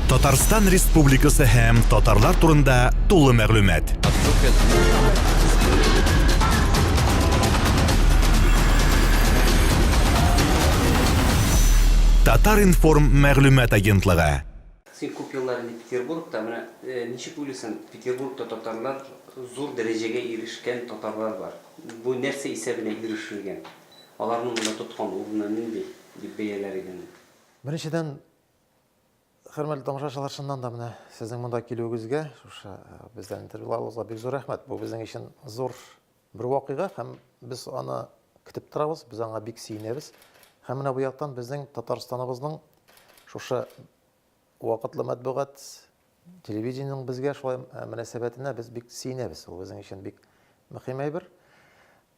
Татарстан Республикасы һәм татарлар турында тулы мәгълүмат. Татар информ мәгълүмат агентлыгы. Син күп еллар инде Петербургта, менә э, ничек уйлыйсың, Петербургта татарлар зур дәрәҗәгә ирешкән татарлар бар. Бу нәрсә исәбенә ирешелгән? Аларның монда тоткан урыны нинди дип бәяләр идең? Беренчедән, Хөрмәтле тамашачылар, чыннан да менә сезнең монда килүегезгә, шушы э, бездән интервьюларыгызга бик зур рәхмәт. Бу безнең өчен зур бер вакыйга һәм без аны көтеп торабыз, без аңа бик сөенәбез. Һәм менә бу яктан безнең Татарстаныбызның шушы вакытлы матбугат телевидениенең безгә шулай э, мөнәсәбәтенә без бик сөенәбез. Ул безнең өчен бик мөһим әйбер.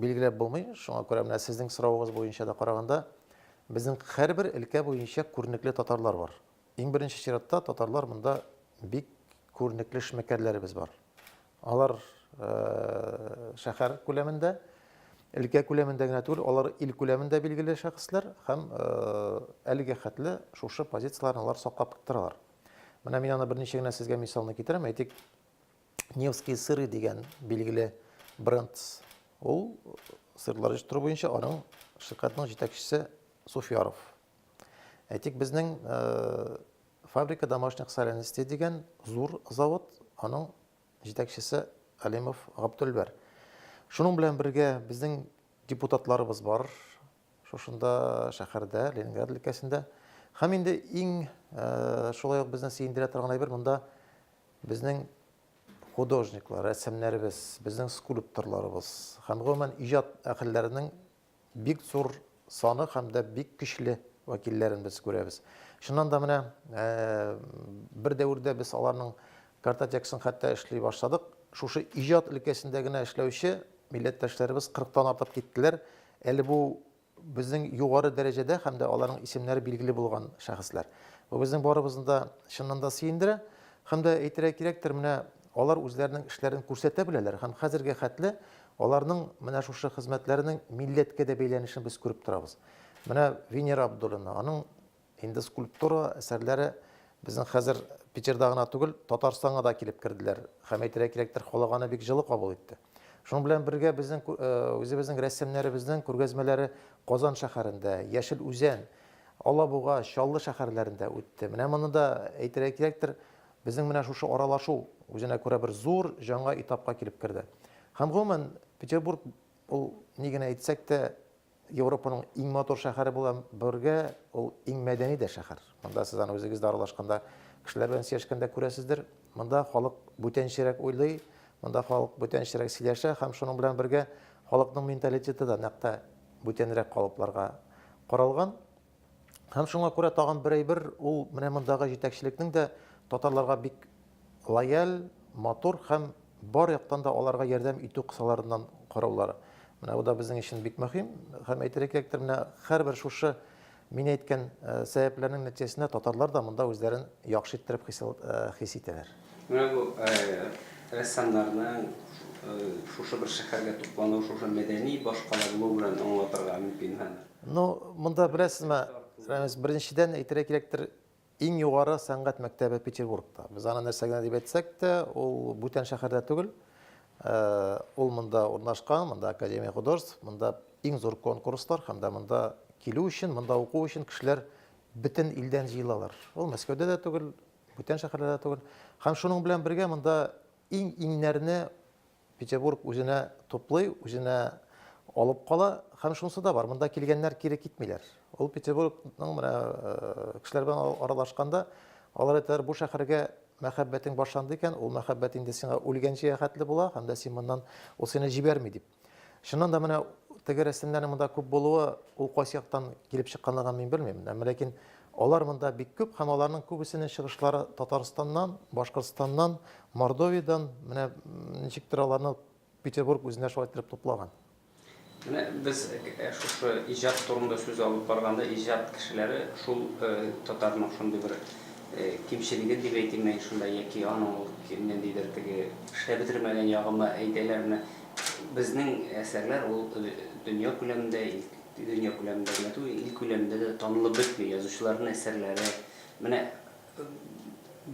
Билгеләп булмый, шуңа күрә менә сезнең соравыгыз буенча да караганда, безнең һәрбер өлкә буенча күренекле татарлар бар. Иң беренче чиратта татарлар монда бик күренекле эшмәкәрләребез бар. Алар э, шәһәр күләмендә, өлкә күләмендә генә түгел, алар ил күләмендә билгеле шәхесләр һәм э, әлегә хәтле шушы позицияләрне алар саклап торалар. Менә мин аны берничә генә сезгә мисалны китерәм. Әйтик, Невские сыры дигән билгеле бренд. Ул сырлар җитештерү буенча аның ширкатының җитәкчесе Суфьяров. Әйтик, безнең э, фабрика домашних соленостей дигән зур завод, аның җитәкчесе Алимов Габдулбәр. Шуның белән бергә безнең депутатларыбыз бар, шушында шәһәрдә, Ленинград өлкәсендә. Һәм инде иң шулай ук безне сөендерә торган әйбер монда безнең художниклар, рәсемнәребез, безнең скульпторларыбыз һәм гомумән иҗат әһелләренең бик зур саны һәм дә бик көчле вәкилләрен без күрәбез. Шуннан да менә э, бер дәвердә без аларның картотекасын хәтта эшли башладык. Шушы иҗат өлкәсендә генә эшләүче милләттәшләребез 40 тан артып киттеләр. Әле бу безнең югары дәрәҗәдә һәм дә аларның исемнәре билгеле булган шәхесләр. Бу безнең барыбызны да чыннан да сөендерә. Һәм дә әйтергә кирәктер, менә алар үзләренең эшләрен күрсәтә беләләр һәм хәзергә хәтле аларның менә шушы хезмәтләренең милләткә дә бәйләнешен без күреп торабыз. Менә Венера Абдуллина, аның Инде скульптура әсәрләре безнең хәзер Питерда гына түгел, Татарстанга да килеп керделәр. Һәм әйтергә кирәктер, халыганы бик җылы кабул итте. Шуның белән бергә безнең э, үзебезнең рәссамнарыбызның күргәзмәләре Казан шәһәрендә, Яшел Үзән, Алабуга, Чаллы шәһәрләрендә үтте. Менә моны да әйтергә кирәктер, безнең менә шушы аралашу үзенә күрә бер зур жаңа этапка килеп керде. Һәм гомумән Петербург ул ни генә әйтсәк тә Европаның иң матур шәһәре була бергә, ул иң мәдәни дә шәһәр. Монда сез аны үзегез дә аралашканда, кешеләр белән сөйләшкәндә күрәсездер. Монда халык бүтәнчерәк уйлый, монда халык бүтәнчерәк сөйләшә һәм шуның белән бергә халыкның менталитеты да нәкъ тә бүтәнрәк калыпларга корылган. Һәм шуңа күрә тагын бер әйбер, ул менә мондагы җитәкчелекнең дә татарларга бик лояль, матур һәм бар яктан да аларга ярдәм итү кысаларыннан караулары. Менә бу да безнең өчен бик мөһим. Һәм әйтергә кирәктер, менә һәрбер шушы мин әйткән э, сәбәпләрнең нәтиҗәсендә татарлар да монда үзләрен яхшы иттереп хис э, итәләр. Менә бу э, рәссамнарның шушы бер шәһәргә туплануы шушы мәдәни башкалану белән аңлатырга мөмкин һәм Ну, монда беләсезме, Рәмис, беренчедән әйтергә кирәктер, иң югары сәнгать мәктәбе Петербургта. Без аны нәрсә генә дип әйтсәк тә, ул бүтән шәһәрдә түгел. Э, ул монда урнашкан, монда Академия художеств, монда иң зур конкурслар һәм дә монда килү өчен, монда уку өчен кешеләр бөтен илдән җыелалар. Ул Мәскәүдә дә түгел, бүтән шәһәрләрдә түгел. Һәм шуның белән бергә монда иң иңнәрне Петербург үзенә туплый, үзенә алып кала һәм шунысы да бар, монда килгәннәр кире китмиләр. Ул Петербургның менә э, кешеләр белән аралашканда, алар әйтәләр, бу шәһәргә мәхәббәтең башланды икән, ул мәхәббәт инде сиңа үлгәнчегә хәтле була һәм дә син моннан ул сине җибәрми дип. Чыннан да менә теге рәсемнәрнең монда күп булуы, ул кайсы яктан килеп чыкканлыгын мин белмим. Ләкин Алар монда бик күп һәм аларның күбесенең чыгышлары Татарстаннан, Башкортстаннан, Мордовиядән, менә ничектер аларны Петербург үзенә шулай иттереп туплаган. Менә без шушы иҗат турында сүз алып барганда, иҗат кешеләре шул татарның шундый бер кимчелеген дип әйтимме, шунда яки аның ул ниндидер теге эшләп бетермәгән ягымы әйтәләрме, безнең әсәрләр ул дөнья күләмендә Дөнья күләмендә генә түгел, ил күләмендә дә танылып бетми язучыларның әсәрләре. Менә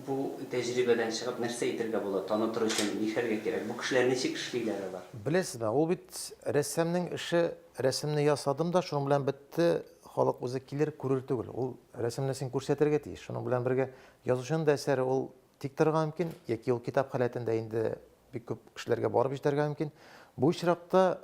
бу тәҗрибәдән чыгып, нәрсә әйтергә була, танытыр өчен нихәлгә кирәк? Бу кешеләр ничек эшлиләр алар? Беләсезме, ул бит рәссамның эше, рәсемне ясадым да, шуның белән бетте, халык үзе килер, күрер түгел. Ул рәсемне син күрсәтергә тиеш. Шуның белән бергә язучының да әсәре ул тик торырга мөмкин, яки ул китап халәтендә инде бик күп кешеләргә барып җитәргә мөмкин. Бу очракта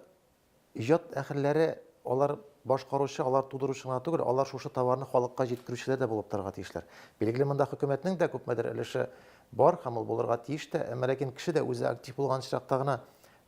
иҗат әһелләре, алар башкаручы, алар тудыручы гына түгел, алар шушы товарны халыкка җиткерүчеләр дә булып торырга тиешләр. Билгеле, монда хөкүмәтнең дә күпмедер өлеше бар һәм ул булырга тиеш тә, әмма ләкин кеше дә үзе актив булган очракта гына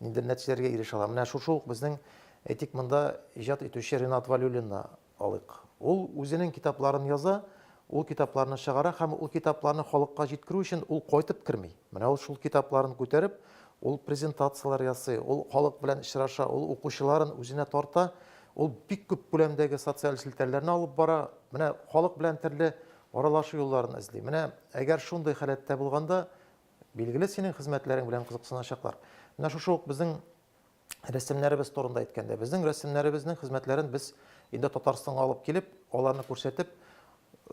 ниндидер нәтиҗәләргә ирешә ала. Менә шушы ук безнең, әйтик, монда иҗат итүче Ринат Вәлиуллинны Алыйк. Ул үзенең китапларын яза, ул китапларны чыгара һәм ул китапларны халыкка җиткерү өчен ул кайтып керми. Менә ул шул китапларын күтәреп, ул презентацияләр ясый, ул халык белән очраша, ул укучыларын үзенә тарта, ул бик күп күләмдәге социаль челтәрләрне алып бара, менә халык белән төрле аралашу юлларын эзли. Менә әгәр шундый халәттә булганда, билгеле, синең хезмәтләрең белән кызыксыначаклар. Менә шушы ук безнең рәсемнәребез турында әйткәндә, безнең рәсемнәребезнең хезмәтләрен без инде Татарстанга алып килеп, аларны күрсәтеп,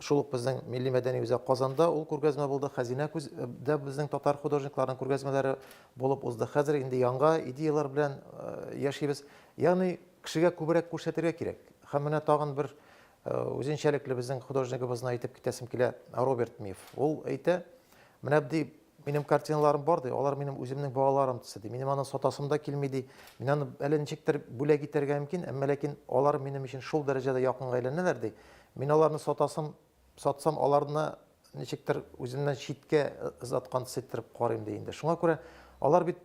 шул ук безнең милли мәдәни үзәк Казанда ул күргәзмә булды, Хәзинә күздә безнең татар художникларының күргәзмәләре булып узды. Хәзер инде яңа идеялар белән яшибез. Ягъни кешегә күбрәк күрсәтергә кирәк. Һәм менә тагын бер үзенчәлекле безнең художнигыбызны әйтеп китәсем килә, Роберт Миф. Ул әйтә, менә ди Минем картиналарым бар, ди, алар минем үземнең балаларым төсе, ди. Минем аны сатасым да килми, ди. Мин аны әле ничектер бүләк итәргә мөмкин, әмма ләкин алар минем өчен шул дәрәҗәдә якынга әйләнәләр, ди. Мин аларны сатасым, сатсам, аларны ничектер үземнән читкә озаткан төс иттереп карыйм, ди инде. Шуңа күрә алар бит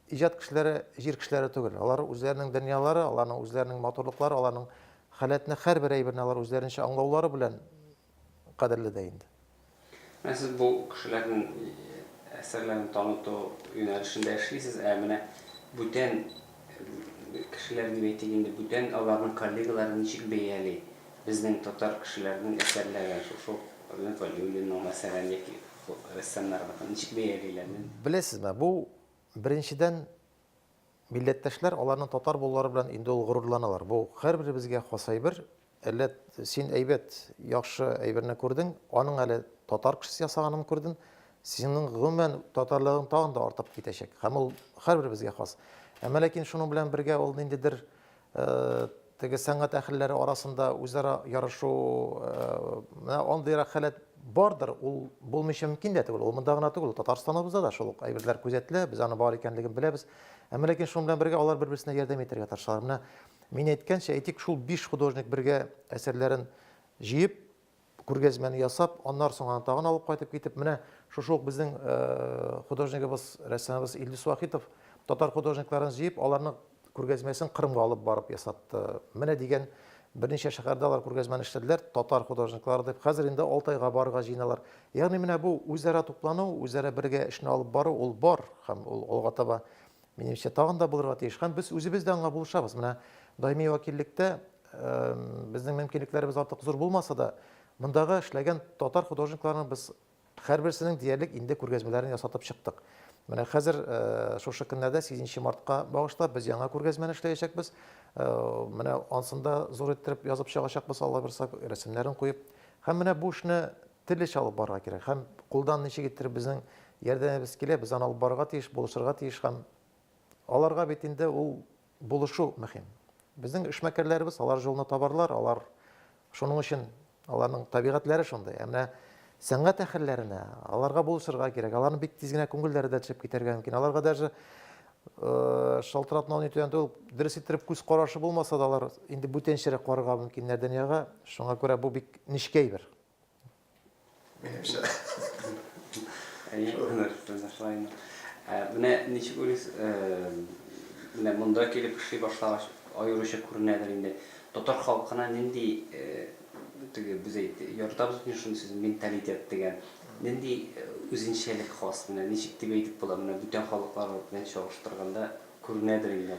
иҗат кешеләре, җир кешеләре түгел. Алар үзләренең дөньялары, аларның үзләренең матурлыклары, аларның халәтне һәрбер әйберне алар үзләренчә аңлаулары белән кадерле дә инде. Менә сез бу кешеләрнең әсәрләрен таныту юнәлешендә эшлисез, ә менә бүтән кешеләр дип әйтик инде, бүтән аларның коллегалары ничек бәяли безнең татар кешеләренең әсәрләрен, шушы Альбина Вәлиуллина, мәсәлән, яки рәссамнарныкын ничек бәялиләр? Беләсезме, бу, беренчедән, Милләттәшләр аларның татар булулары белән инде ул горурланалар. Бу һәрберебезгә хас әйбер. Әллә син әйбәт, яхшы әйберне күрдең, аның әле татар кешесе ясаганын күрден, синең гомумән татарлыгың тагын да артып китәчәк. Һәм ул һәрберебезгә хас. Әмма ләкин шуның белән бергә ул ниндидер теге сәнгать әһелләре арасында үзара ярышу менә андыйрак халәт бардыр, ул булмыйча мөмкин дә түгел. Ул монда гына түгел, Татарстаныбызда да шул ук әйберләр күзәтелә, без аны бар икәнлеген беләбез. Әмма ләкин шуның белән бергә алар бер-берсенә ярдәм итәргә тырышалар. Менә мин әйткәнчә, әйтик, шул биш художник бергә әсәрләрен җыеп, күргәзмәне ясап, аннары соң аны тагын алып кайтып китеп, менә шушы ук безнең э, художнигыбыз, рәссамыбыз Илдус Вахитов татар художникларын җыеп, аларның күргәзмәсен Кырымга алып барып ясатты. Менә дигән берничә шәһәрдә алар күргәзмәне эшләделәр, татар художниклары дип. Хәзер инде Алтайга барырга җыеналар. Ягъни менә бу үзара туплану, үзара бергә эшне алып бару, ул бар һәм ул алга таба Минемчә, тагын да булырга тиеш. Һәм без үзебез дә аңа булышабыз. Менә даими вәкиллектә безнең мөмкинлекләребез артык зур булмаса да, мондагы эшләгән татар художникларының без һәрберсенең диярлек инде күргәзмәләрен ясатып чыктык. Менә хәзер шушы көннәрдә 8 мартка багышлап без яңа күргәзмәне эшләячәкбез. Менә ансында зур иттереп язып чыгачакбыз, Алла бирса, рәсемнәрен куеп. Һәм менә бу эшне Төрлечә алып барырга кирәк һәм кулдан ничегедер безнең ярдәмебез килә, без аны алып барырга тиеш, булышырга тиеш һәм аларга бит инде ул булышу мөһим. Безнең эшмәкәрләребез алар җолны табарлар, алар шуның өчен аларның табигатьләре шундый. Ә менә сәнгать әһелләренә, аларга булышырга кирәк, аларның бик тиз генә күңелләре дә төшеп китәргә мөмкин. Аларга даже шалтыратмау ни түгән түгел, дөрес иттереп күз карашы булмаса да, алар инде бүтәнчәрәк карарга мөмкиннәр дөньяга, шуңа күрә бу бик нечкә әйбер. Менә ничек уйлыйсыз, менә монда килеп эшли башлагач, аеруча күренәдер инде. Татар халкына нинди теге без әйт, яратабыз бит шуны сүз менталитет дигән. Нинди үзенчәлек хас, менә ничек дип әйтеп була, менә бүтән халыклар белән чагыштырганда күренәдер инде.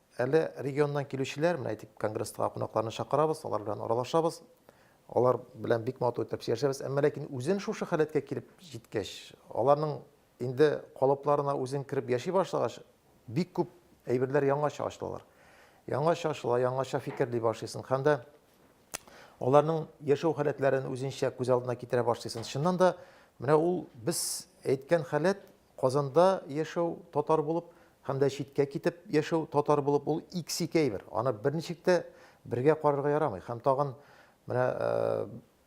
Әле регионнан килүчеләр, менә әйтик, конгресска кунакларны чакырабыз, алар белән аралашабыз. Алар белән бик матур итеп сөйләшәбез. Әмма ләкин үзен шушы халәткә килеп җиткәч, аларның инде калыпларына үзен кереп яши башлагач, бик күп әйберләр яңача ачылалар. Яңача ачыла, яңача фикерли башлыйсың һәм дә аларның яшәү халәтләрен үзенчә күз алдына китерә башлыйсың. Чыннан да, менә ул без әйткән халәт Казанда яшәү, татар булып, һәм дә читкә китеп яшәү, татар булып, ул иксикәй бер. Аны берничек тә бергә карарга ярамый. Һәм тагын менә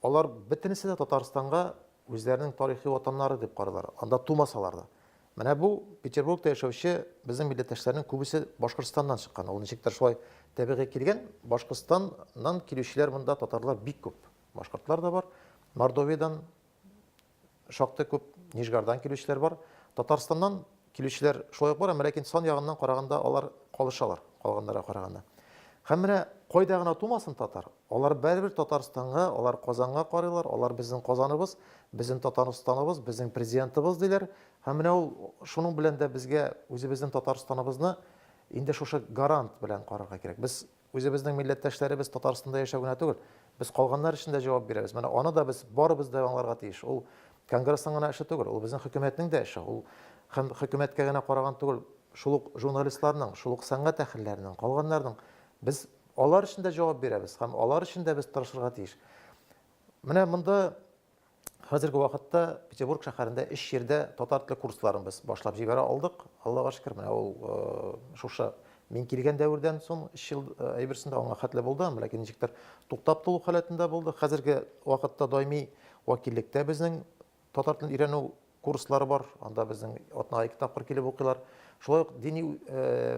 алар бөтенесе дә Татарстанга үзләренең тарихи ватаннары дип карыйлар, анда тумасалар да. Менә бу Петербургта яшәүче безнең милләттәшләрнең күбесе Башкортстаннан чыккан. Ул ничектер шулай табигый килгән. Башкортстаннан килүчеләр монда татарлар бик күп. Башкортлар да бар, Мордовиядән, Шактый күп Нижгардан килүчеләр бар. Татарстаннан килүчеләр шулай ук бар, әмма ләкин сан ягыннан караганда алар калышалар калганнарга караганда. Һәм менә кайда гына тумасын татар, алар барыбер Татарстанга, алар Казанга карыйлар, алар безнең Казаныбыз, безнең Татарстаныбыз, безнең президентыбыз диләр. Һәм менә ул шуның белән дә безгә үзебезнең Татарстаныбызны инде шушы гарант белән карарга кирәк. Без Үзебезнең милләттәшләребез Татарстанда яшәү генә түгел, без калганнар өчен дә җавап бирәбез. Менә аны да без барыбыз да аңларга тиеш. Ул Конгрессның гына эше түгел, ул безнең хөкүмәтнең дә эше. Ул һәм хөкүмәткә генә караган түгел, шул ук журналистларның, шул ук сәнгать әһелләренең, калганнарның. Без алар өчен дә җавап бирәбез һәм алар өчен дә без тырышырга тиеш. Менә монда Хәзерге вакытта Петербург шәһәрендә өч җирдә татар теле курсларын без башлап җибәрә алдык. Аллага шөкер, менә ул э, шушы мин килгән дәвердән соң өч ел э, әйберсендә аңа хәтле булды, ләкин ничектер туктап тулу халәтендә булды. Хәзерге вакытта даими вәкиллектә безнең татар телен өйрәнү курслары бар, анда безнең атнага ике тапкыр килеп укыйлар. Шулай ук дини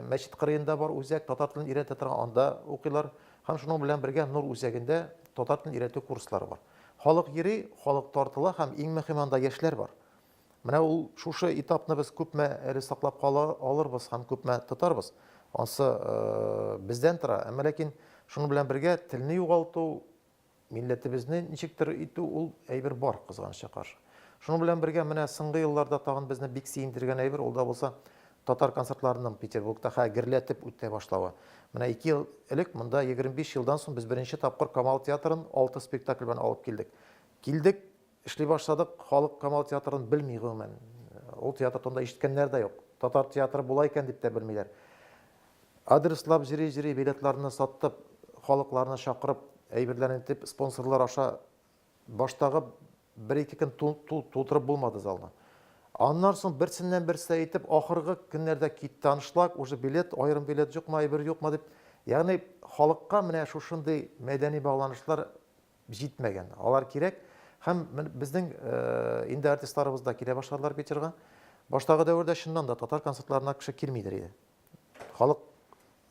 мәчет кырыенда бар үзәк, татар телен өйрәтә торган, анда укыйлар. Һәм шуның белән бергә Нур үзәгендә татар телен өйрәтү курслары бар. Халык йөри, халык тартыла һәм иң мөһиме анда яшьләр бар. Менә ул шушы этапны без күпме әле саклап кала алырбыз һәм күпме тотарбыз, ансы бездән тора. Әмма ләкин шуның белән бергә телне югалту Милләтебезне ничектер итү ул әйбер бар, кызганычка каршы. Шуның белән бергә менә соңгы елларда тагын безне бик сөендергән әйбер ул да булса татар концертларының Петербургта хә герләтеп үтә башлавы. Менә ике ел элек монда 25 елдан соң без беренче тапкыр Камал театрын алты спектакль белән алып килдек. Килдек, Эшли башладык, халык Камал театрын белми гомумән. Ул театр турында ишеткәннәр дә юк. Татар театры була икән дип тә белмиләр. Адреслап җыри-җыри, билетларны саттып, халыкларны чакырып, әйберләрен итеп, спонсорлар аша баштагы бер-ике көн тултырып булмады залны. Аннан соң берсеннән-берсе әйтеп, ахыргы көннәрдә китте аншлаг, уже билет, аерым билет юкмы, әйбер юкмы дип. Ягъни халыкка менә шушындый мәдәни багланышлар җитмәгән, алар кирәк һәм безнең инде артистларыбыз да килә башладылар Питерга. Баштагы дәвердә чыннан да татар концертларына кеше килмидер иде. Халык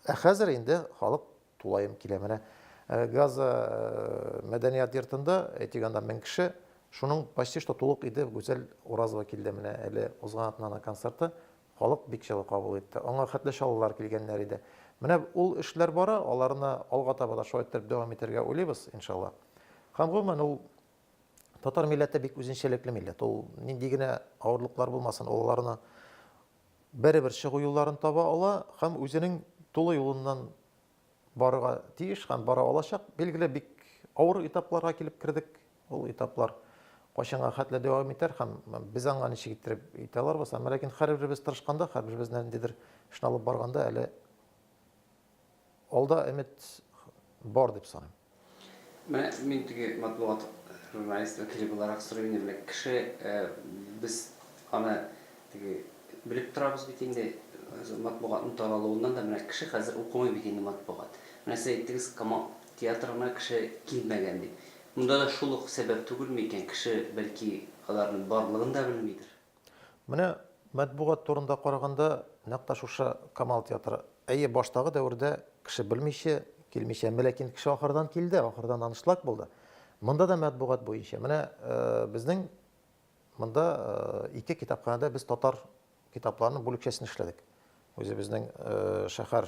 ә хәзер инде халык тулаем килә. Менә Газа мәдәният йортында әйтик анда 1000 кеше, шуның почти что тулык иде Гүзәл Уразова килде менә әле узган атнада концерты. Халык бик җылы кабул итте. Аңа хәтле чаллылар килгәннәр иде. Менә ул эшләр бара, аларны алга таба да шулай иттереп дәвам итәргә уйлыйбыз, иншалла. Һәм гомумән ул татар милләте бик үзенчәлекле милләт. Ул нинди генә авырлыклар булмасын, олыларына бәребер чыгу юлларын таба ала һәм үзенең тулы юлыннан Барырга тиеш һәм бара алачак. Билгеле, бик авыр этапларга килеп кердек. Ул этаплар кайчанга хәтле дәвам итәр һәм без аңа ничек иттереп итә аларбыз. Әмма ләкин һәрберебез тырышканда, һәрберебез ниндидер эшне алып барганда әле алда өмет бар дип саныйм. Менә мин теге матбугат журналист вәкиле буларак сорыйм инде, менә кеше, без аны теге белеп торабыз бит инде, матбугатның таралуыннан да, менә кеше хәзер укымый бит инде матбугат. Менә сез әйттегез, Камал театрына кеше килмәгән дип. Монда да шул ук сәбәп түгелме икән, кеше, бәлки, аларның барлыгын да белмидер? Менә матбугат турында караганда, нәкъ тә шушы Камал театры. Әйе, баштагы дәвердә кеше белмичә, килмичә, әмма ләкин кеше ахырдан килде, ахырдан анышлак булды. Монда да матбугат буенча. Менә безнең монда ике китапханәдә без татар китапларының бүлекчәсен эшләдек. Үзебезнең шәһәр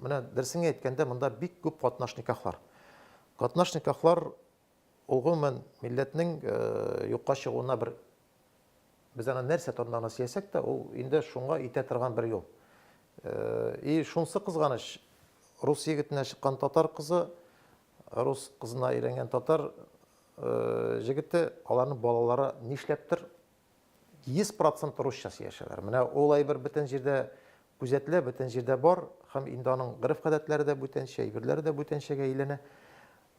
Менә дөресен әйткәндә, монда бик күп катнаш никахлар. Катнаш никахлар ул гомумән милләтнең э, юкка чыгуына бер без аны нәрсә турында гына сөйләсәк тә, ул инде шуңа итә торган бер юл. Э, и шунсы кызганыч, рус егетенә чыккан татар кызы, рус кызына өйрәнгән татар э, җегете, аларның балалары нишләптер 100 процент русча сөйләшәләр. Менә ул әйбер бөтен җирдә күзәтелә, бөтен җирдә бар һәм инде аның гореф-гадәтләре дә бүтәнчә, әйберләре дә бүтәнчәгә әйләнә.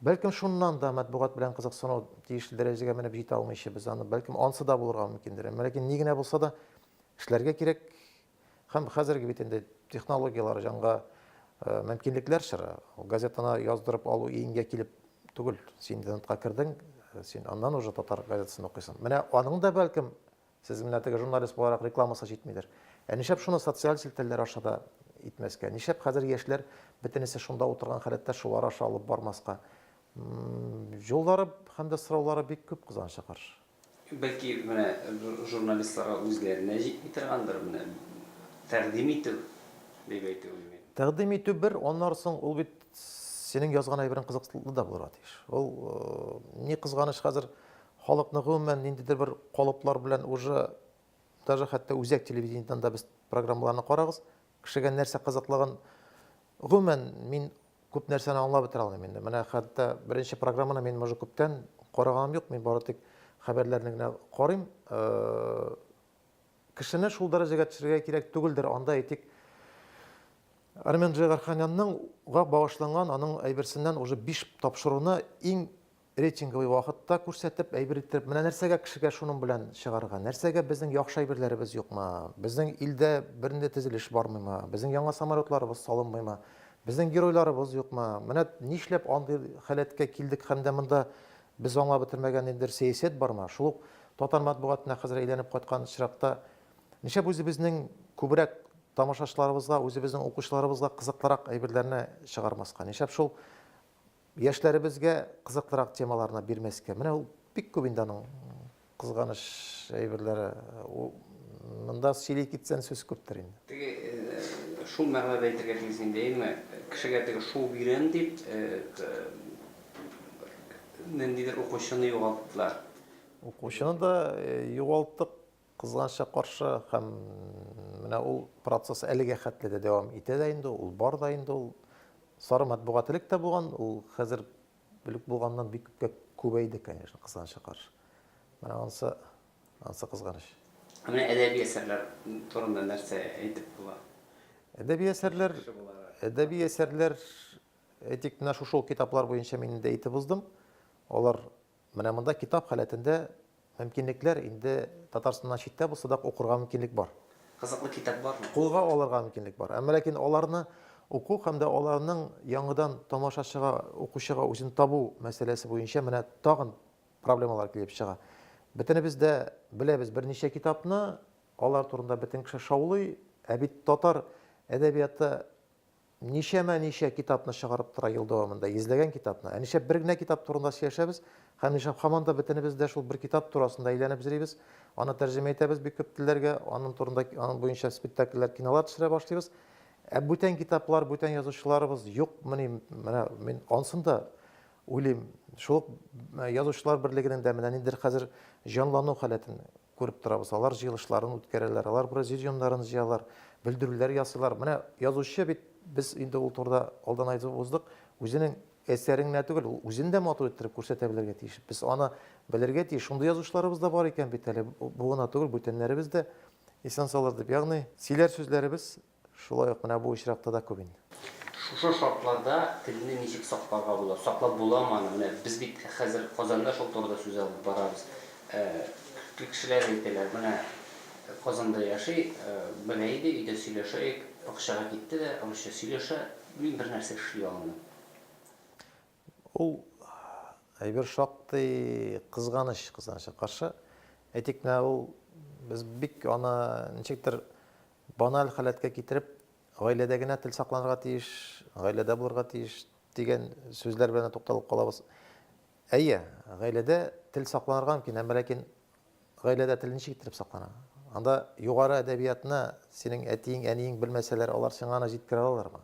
Бәлкем шуннан да матбугат белән кызыксыну тиешле дәрәҗәгә менеп җитә алмыйча без аны, бәлкем ансы да булырга мөмкиндер. Әмма ләкин ни генә булса да эшләргә кирәк, Һәм хәзерге бит инде технологияләр җанга мөмкинлекләр чыра. Газетаны яздырып алу иңгә килеп түгел. Син интернетка кердең, син аннан уже татар газетасын укыйсың. Менә аның да бәлкем сез менә теге журналист буларак рекламасы җитмидер. Ә нишәп шуны социаль челтәрләр аша да итмәскә? Нишәп хәзер яшьләр бөтенесе шунда утырган халәттә шулар аша алып бармаска? Юллары һәм дә сораулары бик күп кызганыча каршы. Бәлки, менә журналистларга үзләренә җитми торгандыр, менә тәкъдим итү дип әйтүем мин. Тәкъдим итү бер, аннары соң ул бит синең язган әйберең кызыкслы да булырга тиеш. Ул, ни кызганыч, хәзер халыкны гомумән ниндидер бер калыплар белән уже, даже хәтта үзәк телевидениедән дә без программаларны карагыз, Кешегә нәрсә кызыклыгын, гомумән, мин күп нәрсәне аңлап бетерә алмыйм инде. Менә хәтта беренче программаны мин уже күптән караганым юк, мин бары тик хәбәрләрне генә карыйм. Кешене шул дәрәҗәгә төшерергә кирәк түгелдер, анда әйтик, Армен Джигарханянның гак багышланган аның әйберсеннән уже биш тапшыруны иң Рейтинговый вакытта күрсәтеп, әйбер иттереп, менә нәрсәгә кешегә шуның белән чыгарга, нәрсәгә безнең яхшы әйберләребез юкмы, безнең илдә бернинди тезелеш бармыймы, безнең яңа самолетларыбыз салынмыймы, безнең геройларыбыз юкмы, менә нишләп андый халәткә килдек һәм дә монда без аңлап бетермәгән ниндидер сәясәт бармы, шул ук татар матбугатына хәзер әйләнеп кайткан очракта нишләп үзебезнең күбрәк тамашачыларыбызга, үзебезнең укучыларыбызга кызыклырак әйберләрне чыгармаска, нишләп шул Яшьләребезгә кызыклырак темаларны бирмәскә. Менә ул бик күп инде аның кызганыч әйберләре. Монда сөйли китсән сүз күптер инде. Теге шул мәгънәдә әйтергә тиеш син даими кешегә теге шул бирәм дип ниндидер укучыны югалттылар. Укучыны да югалттык, Кызганычка каршы, һәм менә ул процесс әлегә хәтле дә дәвам итә дә инде, ул бар да инде ул. Сары матбугат элек тә булган, ул хәзер элек булганнан бик күпкә күбәйде, конечно, кызганычка каршы. Менә анысы, анысы кызганыч. Ә менә әдәби әсәрләр турында нәрсә әйтеп була? Әдәби әсәрләр, әдәби әсәрләр, әйтик, менә шушы ук китаплар буенча мин инде әйтеп уздым. Алар Менә монда китап халәтендә мөмкинлекләр, инде Татарстаннан читтә булса да укырга мөмкинлек бар. Кызыклы китап бармы? Кулга алырга мөмкинлек бар. Әмма ләкин аларны уку һәм дә аларның яңадан тамашачыга, укучыга үзен табу мәсьәләсе буенча менә тагын проблемалар килеп чыга. Бөтенебез дә беләбез берничә китапны, алар турында бөтен кеше шаулый, ә бит татар әдәбияты Ничәмә ничә китапны чыгарып тора ел дәвамында, йөзләгән китапны. Ә нишләп бер генә китап турында сөйләшәбез? Һәм нишләп һаман да бөтенебез дә шул бер китап турасында әйләнеп йөрибез? Аны тәрҗемә итәбез бик күп телләргә, аның турында, аның буенча спектакльләр, кинолар төшерә башлыйбыз. Ә бүтән китаплар, бүтән язучыларыбыз юкмыни? Менә мин ансын да уйлыйм. Шул ук язучылар берлегенең дә менә ниндидер хәзер җанлану халәтен Күреп торабыз, алар җыелышларын үткәрәләр, алар президиумнарын җыялар, белдерүләр ясыйлар. Менә язучы бит, без инде ул турыда алдан айтып уздык, үзенең әсәрен генә түгел, ул үзен дә матур иттереп күрсәтә белергә тиеш. Без аны белергә тиеш. Шундый язучыларыбыз да бар икән бит әле, бу гына түгел, бүтәннәребез дә исән-саулар дип. Ягъни, сөйләр сүзләребез Шулай ук менә бу очракта да күп инде. Шушы шартларда телне ничек сакларга була? Саклап буламы аны? Менә без бит хәзер Казанда шул турыда сүз алып барабыз. Күп кешеләр әйтәләр, менә Казанда яши, белә иде, өйдә сөйләшәек, бакчага китте дә, русча сөйләшә, мин бернәрсә эшли алмыйм. Ул әйбер шактый кызганыч, кызганычка каршы. Әйтик, менә ул без бик аны ничектер баналь халәткә китереп, гаиләдә генә тел сакланырга тиеш, гаиләдә булырга тиеш дигән сүзләр белән тукталып калабыз. Әйе, гаиләдә тел сакланырга мөмкин, әмма ләкин гаиләдә тел ничек иттереп саклана? Анда югары әдәбиятны синең әтиең, әниең белмәсәләр, алар сиңа аны җиткерә алалармы?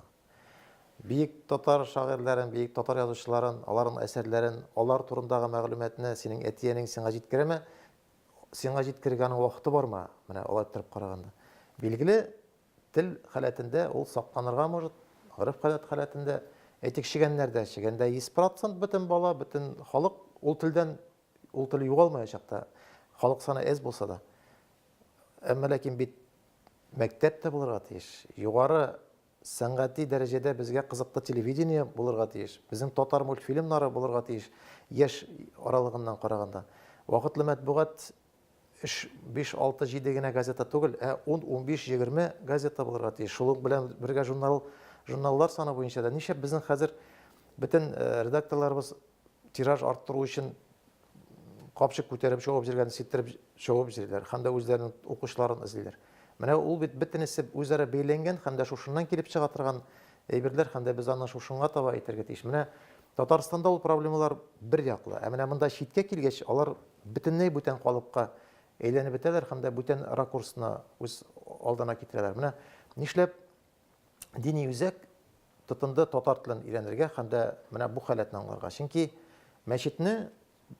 Биек татар шагыйрьләрен, биек татар язучыларын, аларның әсәрләрен, алар турындагы мәгълүматны синең әти-әниң сиңа җиткерәме? Сиңа җиткерергә аның вакыты бармы? Менә алай торып караганда. Билгеле, тел халәтендә ул сакланырга может, гореф-гадәт халәтендә. Әйтик, чегәннәрдә, чегәндә 100% бөтен бала, бөтен халык ул телдән, ул тел югалмаячак та, халык саны әз булса да. Әмма ләкин бит мәктәп тә булырга тиеш, югары Сәнгати дәрәҗәдә безгә кызыклы телевидение булырга тиеш. Безнең татар мультфильмнары булырга тиеш, яшь аралыгыннан караганда. Вакытлы мәтбугат өч, биш, алты, җиде генә газета түгел, ә ун, унбиш, егерме газета булырга тиеш. Шулык белән бергә журнал, журналлар саны буенча да. Нишләп безнең хәзер бөтен редакторларыбыз тираж арттыру өчен капчык күтәреп чыгып җиргән сиптереп чыгып җирләр һәм дә үзләренең укучыларын эзлиләр. Менә ул бит бөтенесе үзара бәйләнгән һәм дә шушыннан килеп чыга торган әйберләр һәм дә без аны шушынга таба әйтергә тиеш. Менә Татарстанда ул проблемалар бер яклы, ә менә монда читкә килгәч, алар бөтенләй бүтән калыпка әйләнеп бетәләр һәм дә бүтән ракурсны үз алдына китерәләр. Менә нишләп дини үзәк тотынды татар телен өйрәнергә һәм дә менә бу халәтне аңларга. Чөнки мәчетне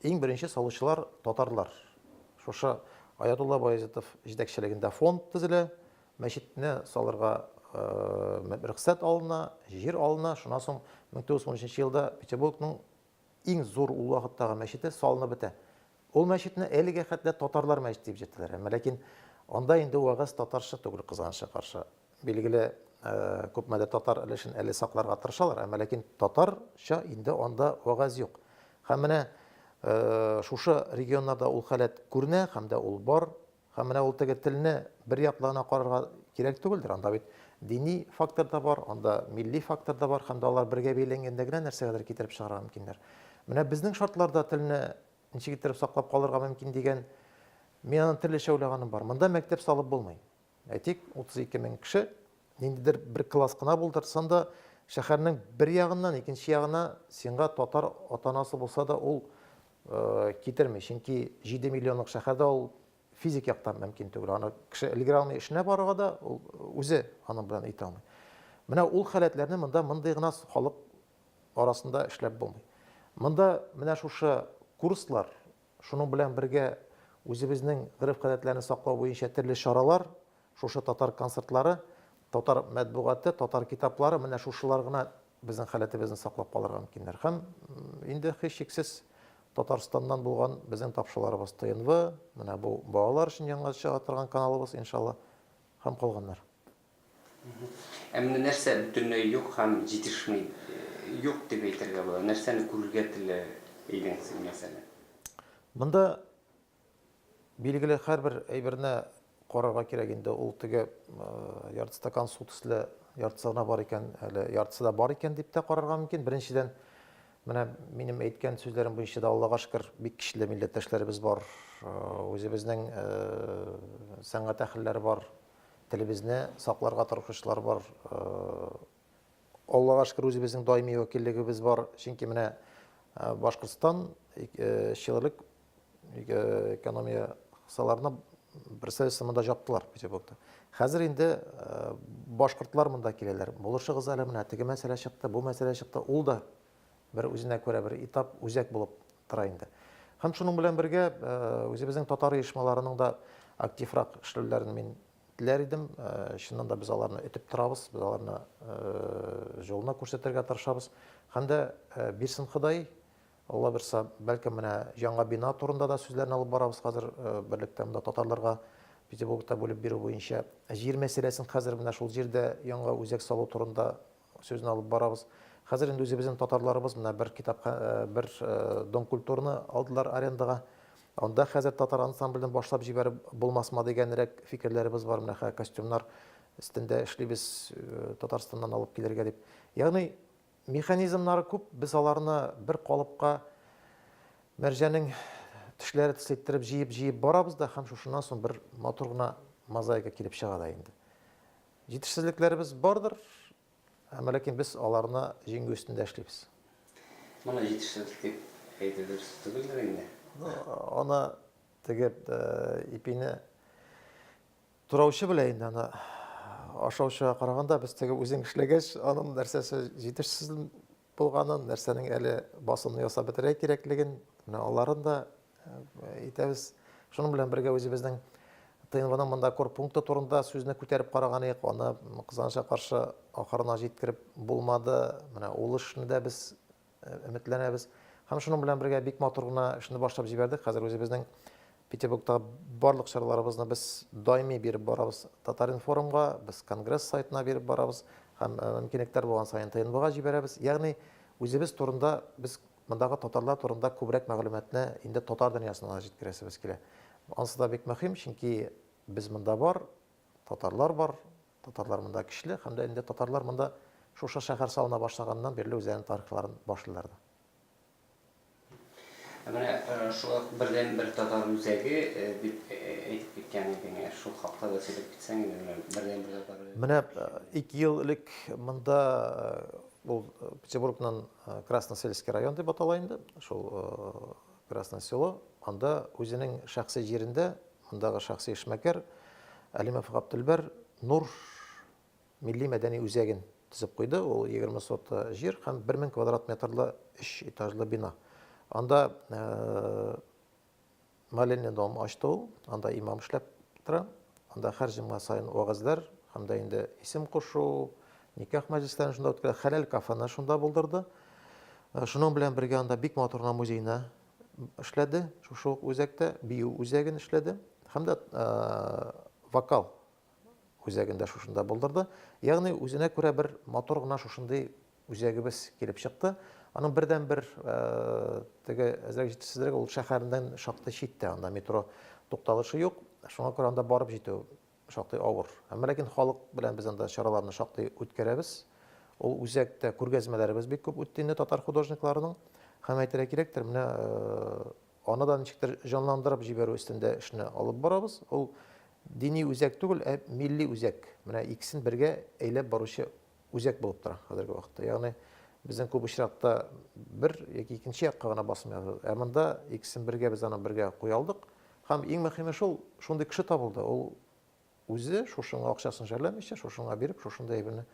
иң беренче салучылар татарлар. Шушы Аятулла Баязитов җитәкчелегендә фонд төзелә, мәчетне салырга э, рөхсәт алына, җир алына, шуннан соң 1913 елда Петербургның Иң зур ул вакыттагы мәчете салынып бетә. Ул мәчетне әлегә хәтле татарлар мәчете дип җитәләр. Әмма ләкин анда инде вәгазь татарча түгел, кызганычка каршы. Билгеле, күпмедер татар өлешен әле сакларга тырышалар, әмма ләкин татарча инде анда вәгазь юк. Һәм менә шушы регионнарда ул халәт күренә һәм дә ул бар. Һәм менә ул теге телне бер яклы гына карарга кирәк түгелдер. Анда бит дини фактор да бар, анда милли фактор да бар, һәм дә алар бергә бәйләнгәндә генә нәрсәгәдер китереп чыгарга мөмкиннәр. Менә безнең шартларда телне ничек иттереп саклап калырга мөмкин дигән, мин аны төрлечә уйлаганым бар. Монда мәктәп салып булмый. Әйтик, 32 мең кеше ниндидер бер класс кына булдыртсын да, шәһәрнең бер ягыннан икенче ягына сиңа татар атанасы булса да, ул китерми, чөнки 7 миллионлык шәһәрдә ул физик яктан мөмкин түгел. Аны кеше өлгерә алмый эшенә барырга да, ул үзе аның белән итә алмый. Менә ул халәтләрне монда мондый гына халык арасында эшләп булмый. Монда менә шушы курслар, шуның белән бергә үзебезнең гореф-гадәтләрне саклау буенча төрле чаралар Шушы татар концертлары, татар мәтбугаты, татар китаплары, менә шушылар гына безнең халәтебезне саклап калырга мөмкиннәр. Һәм инде һичшиксез Татарстаннан булган безнең тапшыруларыбыз ТНВ, менә бу балалар өчен яңа чыга торган каналыбыз, иншалла, һәм калганнар. Ә менә нәрсә бөтенләй юк һәм җитешми? Юк дип әйтергә була. Нәрсәне күрергә теләр идең син, мәсәлән? Монда Билгеле, һәрбер әйберне карарга кирәк инде. Ул теге ярты стакан су төсле яртысы гына бар икән, әле яртысы да бар икән дип тә карарга мөмкин. Беренчедән, менә минем әйткән сүзләрем буенча да, Аллага шөкер, бик көчле милләттәшләребез бар. Үзебезнең сәнгать әһелләре бар. Телебезне сакларга тырышучылар бар. Аллага шөкер, үзебезнең даими вәкиллегебез бар. Чөнки менә Башкортстан чилелек Өйгә экономия кысаларына берсе сымында жаптылар Петербургта. Хәзер инде э, башкортлар монда киләләр. Булышыгыз әле менә теге мәсьәлә чыкты, бу мәсьәлә чыкты. Ул да бер үзенә күрә бер этап, үзәк булып тора инде. Һәм шуның белән бергә э, үзебезнең татар оешмаларының да активрак эшләүләрен мин теләр идем. Э, чыннан да без аларны өтеп торабыз, без аларны э, жолына күрсәтергә тырышабыз. Һәм дә Бирсен Ходай Алла бирса, бәлкем менә яңа бина турында да сүзләрне алып барабыз хәзер, берлектә монда татарларга Петербургта бүлеп бирү буенча. Җир мәсьәләсен хәзер менә шул җирдә яңа үзәк салу турында сүзне алып барабыз. Хәзер инде үзебезнең татарларыбыз менә бер китап бер Дом культурны алдылар арендага. Анда хәзер татар ансамблен башлап җибәреп булмасмы дигәнрәк фикерләребез бар. Менә хә костюмнар өстендә эшлибез Татарстаннан алып килергә дип. Ягъни Механизмнары күп, без аларны бер калыпка мәрҗәнең тешләре төсле иттереп җыеп-җыеп барабыз да һәм шушыннан соң бер матур гына мозаика килеп чыга да инде. Җитешсезлекләребез бардыр, әмма ләкин без аларны җиңү өстендә эшлибез. Моны җитешсезлек дип әйтү дөрес түгелдер инде? Аны теге ипине Тураучы белән инде аны ашаучыга караганда без теге үзең эшләгәч, аның нәрсәсе җитешсез булганын, нәрсәнең әле басымны ясап бетерә кирәклеген, менә аларын да әйтәбез. Э, Шуның белән бергә үзебезнең ТНВның монда корпункты турында сүзне күтәреп караган идек, аны кызганычка каршы ахырына җиткереп булмады. Менә ул эшне дә без өметләнәбез. Һәм шуның белән бергә бик матур гына эшне башлап җибәрдек. Хәзер үзебезнең Петербургта барлык чараларыбызны без даими биреп барабыз Татаринформга, без конгресс сайтына биреп барабыз һәм э, мөмкинлекләр булган саен ТНБга җибәрәбез. Ягъни үзебез турында без мондагы татарлар турында күбрәк мәгълүматны инде татар дөньясына җиткерәсебез килә. Ансы да бик мөһим, чөнки без монда бар, татарлар бар, Татарлар монда кичле һәм дә инде татарлар монда шушы шәһәр салына башлаганнан бирле үзләренең тарихларын башлыйлар да. Ә менә шул ук бердән бер татар үзәге дип әйтеп киткән идең, шул хакта да сөйләп китсәң иде, менә бердән бер татар. Менә ике ел элек монда ул Петербургның Красносельский район дип атала инде, шул Красное Село, анда үзенең шәхси җирендә, мондагы шәхси эшмәкәр Әлимов Гаптелбәр Нур милли-мәдәни үзәген төзеп куйды. Ул 20 сота җир һәм 1000 квадрат метрлы өч этажлы бина. Анда э, молельный дом ачты ул, анда имам эшләп тора. Анда һәр җомга саен вәгазьләр һәм дә инде исем кушу, никах мәҗлесләрен шунда үткәрә. Хәләл кафены шунда булдырды. Э, шуның белән бергә анда бик матур гына музейны эшләде. Шушы ук үзәктә бию үзәген эшләде һәм дә э, вокал үзәгендә шушында булдырды. Ягъни үзенә күрә бер матур гына шушындый Үзәгебез килеп чыкты. Аның бердәнбер теге әзрәк җитешсезлеге ул шәһәрдән шактый читтә, анда метро тукталышы юк. Шуңа күрә анда барып җитү шактый авыр. Әмма ләкин халык белән без анда чараларны шактый үткәрәбез. Ул үзәктә күргәзмәләребез бик күп үтте инде татар художникларының. Һәм әйтергә кирәктер, менә аны да ничектер җанландырып җибәрү өстендә эшне алып барабыз. Ул дини үзәк түгел, ә милли үзәк. Менә икесен бергә әйләп баручы үзәк булып тора хәзерге вакытта. Ягъни безнең күп очракта бер яки икенче якка гына басым ясадык. Ә монда икесен бергә без аны бергә куя алдык. Һәм иң мөһиме шул, шундый кеше табылды. Ул үзе шушыңа акчасын жәлләмичә, шушыңа биреп, шушында әйберне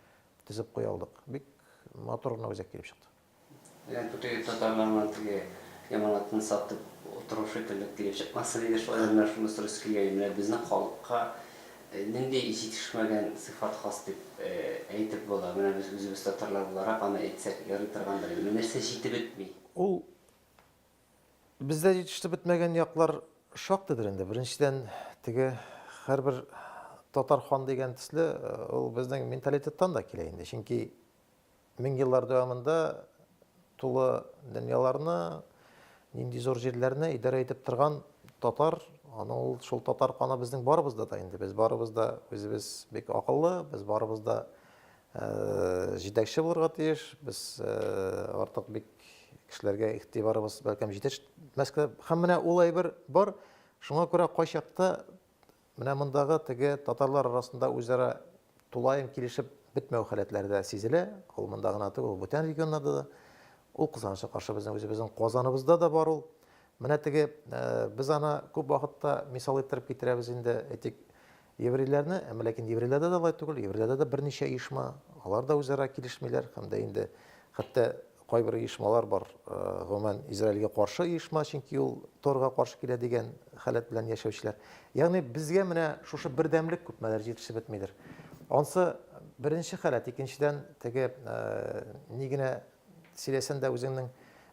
төзеп куя алдык. Бик матур гына үзәк килеп чыкты. Әгәр көтүе татарларның теге яманатын сатып утыру шикелле килеп чыкмасын иде, шулай да менә шуны сорыйсы килгән иде, менә безнең халыкка нинди җитешмәгән сыйфат хас дип әйтеп була? Менә без үзебез татарлар буларак аны әйтсәк ярый торгандыр иде. Менә нәрсә җитеп бетми? Ул бездә җитешеп бетмәгән яклар шактыйдыр инде. Беренчедән, теге һәрбер татар хан дигән төсле, ул безнең менталитеттан да килә инде. Чөнки Мең еллар дәвамында тулы дөньяларны, нинди зур җирләрне идарә итеп торган татар, аны ул шул татар каны безнең барыбызда да инде. Без барыбыз да үзебез бик акыллы, без барыбыз да э, җитәкче булырга тиеш. Без э, артык бик кешеләргә игътибарыбыз бәлкем җитешмәскә. Һәм менә ул әйбер бар. Шуңа күрә кайчакта Менә мондагы теге татарлар арасында үзара тулаем килешеп бетмәү халәтләре дә сизелә. Ул монда гына түгел, ул бүтән регионнарда да. Ул кызганычка каршы безнең үзебезнең Казаныбызда да бар ул. Менә теге без аны күп вакытта мисал иттереп китерәбез инде, әйтик, еврейләрне, әмма ләкин еврейләрдә дә алай түгел, еврейләрдә дә берничә оешма, алар да үзара килешмиләр һәм дә инде хәтта Кайбер оешмалар бар, гомумән, Израильгә каршы оешма, чөнки ул Торга каршы килә дигән халәт белән яшәүчеләр. Ягъни безгә менә шушы бердәмлек күпмедер җитешеп бетмидер. Ансы беренче халәт, икенчедән теге ни генә сөйләсән дә үзеңнең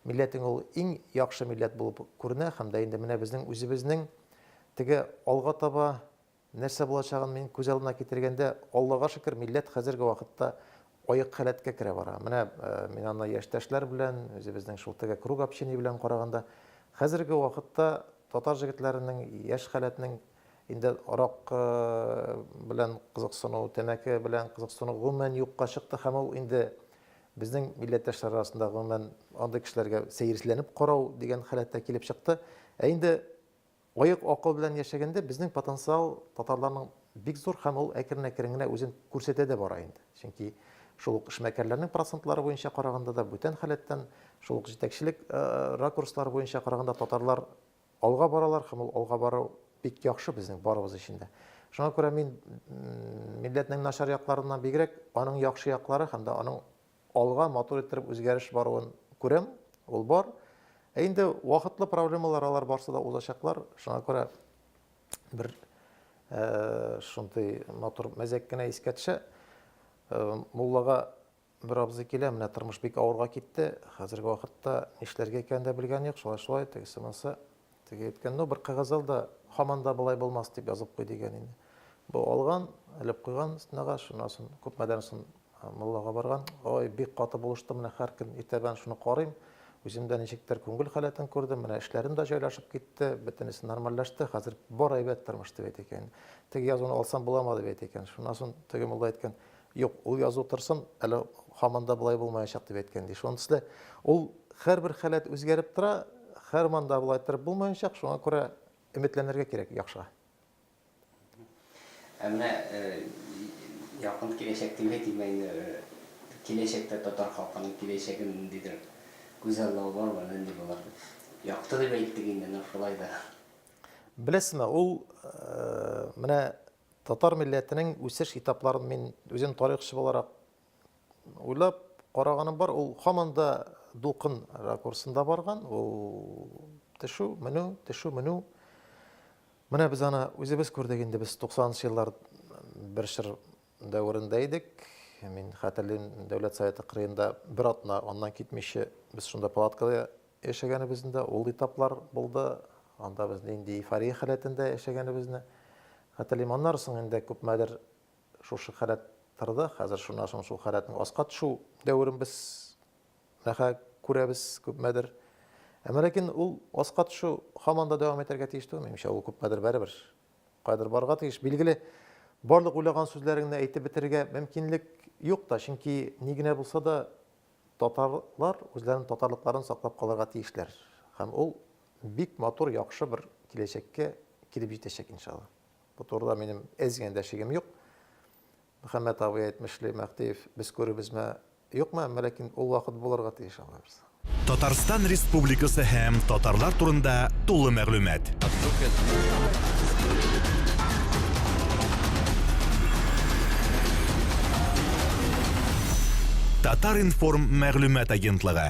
милләтең ул иң яхшы милләт булып күренә һәм дә инде менә безнең үзебезнең теге алга таба Нәрсә булачагын мин күз алдына китергәндә, Аллага шөкер, милләт хәзерге вакытта аек халәткә керә бара. Менә мин аны яшьтәшләр белән, үзебезнең шул теге круг общения белән караганда, хәзерге вакытта татар җегетләренең яшь халәтнең инде арак белән кызыксыну, тәмәке белән кызыксыну гомумән юкка чыкты һәм ул инде безнең милләттәшләр арасында гомумән андый кешеләргә сәерсезләнеп карау дигән халәткә килеп чыкты. Ә инде Аек акыл белән яшәгәндә безнең потенциал татарларның бик зур һәм ул әкрен-әкрен генә үзен күрсәтә дә бара инде. Чөнки шул ук эшмәкәрләрнең процентлары буенча караганда да, бүтән халәттән, шул ук җитәкчелек ракурслары буенча караганда татарлар алга баралар һәм ул алга бару бик яхшы безнең барыбыз өчен дә. Шуңа күрә мин милләтнең начар якларыннан бигрәк аның яхшы яклары һәм дә аның Алга матур иттереп үзгәреш баруын күрәм, ул бар. Ә инде вакытлы проблемалар, алар барсы да узачаклар. Шуңа күрә бер шундый матур мәзәк кенә искә төшә. Муллага бер абзый килә, менә тормыш бик авырга китте, хәзерге вакытта нишләргә икәнен дә белгән юк, шулай-шулай, тегесе-монысы. Теге әйткән, ну, бер кәгазь ал да, һаман да болай булмас дип язып куй, дигән инде. Бу алган, элеп куйган стенага, шуннан соң күпмәдән соң муллага барган. Ой, бик каты булыштым, менә һәр көн иртәдән шуны карыйм. Үзем дә ничектер күңел халәтен күрдем, менә эшләрем дә җайлашып китте, бөтенесе нормальләште, хәзер бар әйбәт тормыш, дип әйтә икән. Теге язуны алсам буламы, дип әйтә икән. Шуннан соң теге мулла әйткән, Юк, ул язу торсын, әле һаман да болай булмаячак дип әйткән иде. Шунысы да, ул һәрбер халәт үзгәреп тора, һәрман да болай торып булмаячак, шуңа күрә өметләнергә кирәк яхшыга. Ә менә якын киләчәк дип әйтик, менә инде киләчәктә татар халкының киләчәге ниндидер күзаллау бармы, нинди булыр дип? Якты дип әйттек инде, но шулай да. Беләсезме, ул менә Татар милләтенең үсеш этапларын мин үзем тарихчы буларак уйлап караганым бар, ул һаман да дулкын ракурсында барган, ул төшү, менү, төшү, менү. Менә без аны үзебез күрдек инде, без 90 еллар бер чор дәверендә идек. Мин хәтерлим, Дәүләт Советы кырыенда бер атна аннан китмичә без шунда палаткада яшәгәнебезнең дә ул этаплар булды. Анда без нинди эйфория халәтендә яшәгәнебезне хәтерлим. Аннары соң инде күпмәдер шушы халәт торды. Хәзер шуннан соң шул халәтнең аска төшү дәверен без нәхә күрәбез күпмәдер. Әмма ләкин ул аска төшү һаман да дәвам итәргә тиеш түгел, минемчә, ул күпмәдер бәребер каядыр барырга тиеш. Билгеле, барлык уйлаган сүзләреңне әйтеп бетерергә мөмкинлек юк та, чөнки ни генә булса да Татарлар үзләренең татарлыкларын саклап калырга тиешләр һәм ул бик матур, яхшы бер киләчәккә килеп җитәчәк, иншалла. Бу турыда минем әз генә дә шигем юк. Мөхәммәт абый әйтмешли, Мәхтиев, без күребезме, юкмы, әмма ләкин ул вакыт булырга тиеш, Алла бирса. Татарстан Республикасы һәм татарлар турында тулы мәгълүмат. Татар-информ мәгълүмат агентлыгы.